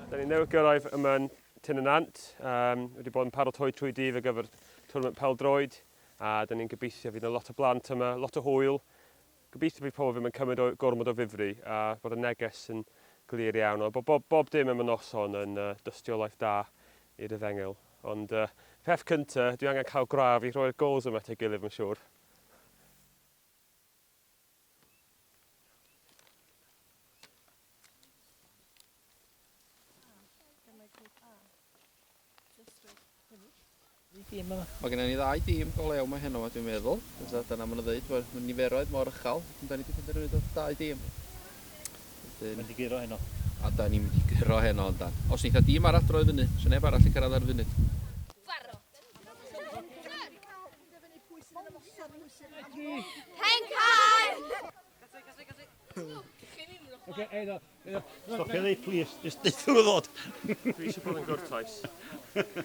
Da ni newydd gyrraedd yma yn Tyn y Nant. Um, wedi bod yn paratoi trwy dydd ar gyfer tournament pel-droed. A da ni'n gobeithio fydd yna lot o blant yma, lot o hwyl. Gobeithio bydd pobl ddim yn cymryd o gormod o ddifri a bod y neges yn glir iawn. Ond bod bob, bob dim am y noson yn uh, dystiolaeth da i'r efengyl. Ond uh, peth cynta, dwi angen cael graf i rhoi'r gols yma at ei gilydd, mae'n siŵr. Mae gennym ni ddau dîm go lew mae heno, dwi'n meddwl. Fysa, dyna maen nhw'n dweud, bod y niferoedd mor uchel. Da ni wedi penderfynu dod dau dîm. Wedyn... Mae'n diguro heno. A da ni'n mynd i gyro heno, yndan. Os neitha dîm arall droi fyny, sy'n neb arall i cyrraedd ar y funud. Pencaer! Oce, eiddo, eiddo. Stopio ddi, plis. Just deuthwr o ddod. Dwi eisiau bod yn gwrtoes.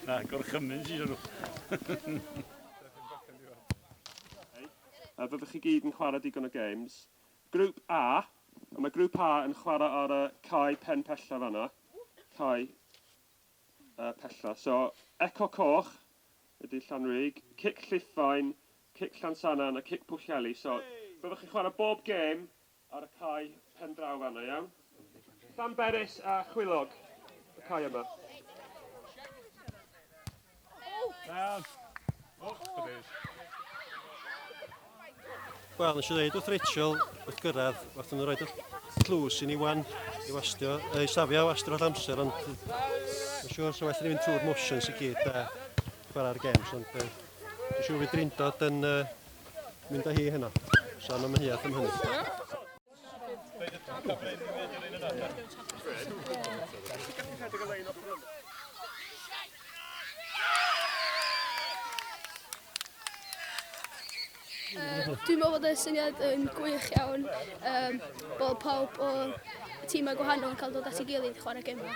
Na, gorchymyn sy'n nhw. A fyddwch chi gyd yn chwarae digon o games. Grŵp A. A mae grŵp A yn chwarae ar y cae pen pella fanna. Cae. Yy pellach. So, Eco Coch ydy Llanrug, Cic Lliffaen, Cic Llansannan a Cic Pwllheli. So, byddwch chi'n chwarae bob gêm ar y cae pen draw fan'na, iawn? Llanberis a Chwilog, y cae yma. Iawn. Och, da fi. Wel, nes i ddeud wrth Rachel wrth gyrraedd, wrth nhw roed y tlws i ni wan i wastio, ei safio wastio all amser, ond yn siŵr sy'n well i ni fynd trwy'r motions i gyd a chwarae'r games, ond uh, dwi'n siŵr fydd Drindod yn uh, mynd â hi heno, so mae'n mynd hi at am hynny. Dwi'n meddwl bod y syniad yn gwych iawn um, bod pawb o tîmau gwahanol yn cael dod at ei gilydd i chwarae gemau.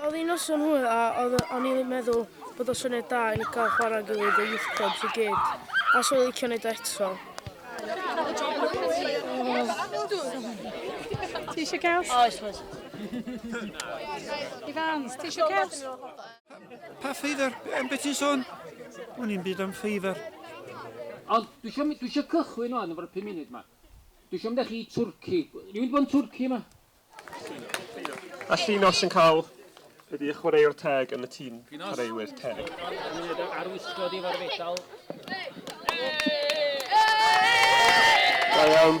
Oedd hi'n noson hwyl a oedd o'n i'n meddwl bod o'n syniad da i ni cael chwarae gilydd y youth clubs i gyd. A so i'n licio wneud eto. Ti eisiau caws? Oes, oes. Ifans, ti eisiau caws? Pa ffeifr? Am beth ti'n sôn? O'n i'n byd am ffeifr. Ond dwi eisiau, dwi eisiau cychwyn o'n efo'r pum munud yma. Dwi eisiau mynd â chi i Twrci. Rwy'n bod yn Twrci yma? A Llinos yn cael ydy y chwaraewr teg yn y tîm chwaraewyr teg. Arwisgo di fo'r fedal. Da iawn.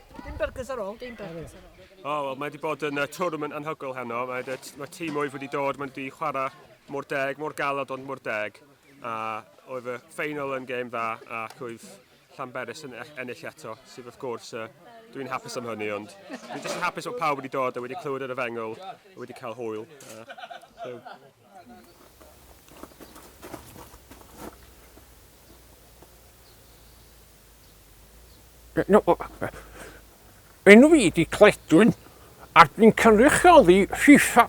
Dim byrgys ar ôl. Dim byrgys ar ôl. O, oh, wel, mae wedi bod yn uh, tournament anhygoel heno. Mae, mae tîm oedd wedi dod, mae wedi chwarae mor deg, mor galod ond mor deg. A oedd y ffeinal yn gêm dda ac oedd Llanberis yn e- ennill eto, sydd wrth gwrs uh, dwi'n hapus am hynny, ond dwi'n jyst yn hapus bod pawb wedi dod a wedi clywed yr efengol, a wedi cael hwyl. Uh, so, Enw fi ydi Cledwyn a dwi'n cynrychioli FIFA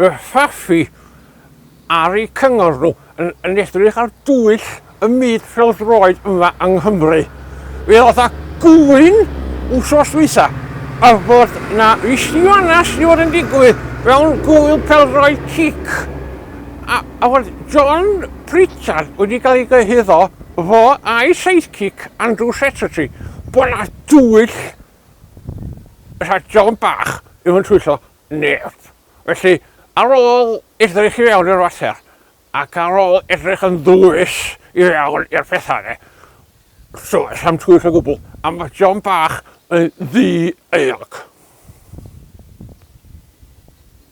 y Ffafi ar eu cyngor nhw yn, yn edrych ar dwyll y myd pêl-droed yma yng Nghymru. Fe oedd a gŵyn wsos dwytha a fod na fisiwanas i fod yn digwydd mewn gwyl pêl-droed cic a, a fod John Pritchard wedi cael ei gyhuddo Fo a'i sidekick Andrew Seterty, bod 'na dwyll fatha John Bach ddim yn twyllo neb. Felly, ar ôl edrych i fewn i'r fater, ac ar ôl edrych yn ddwys i fewn i'r pethau de, does am twyll o gwbl, a mae John Bach yn ddi-euog.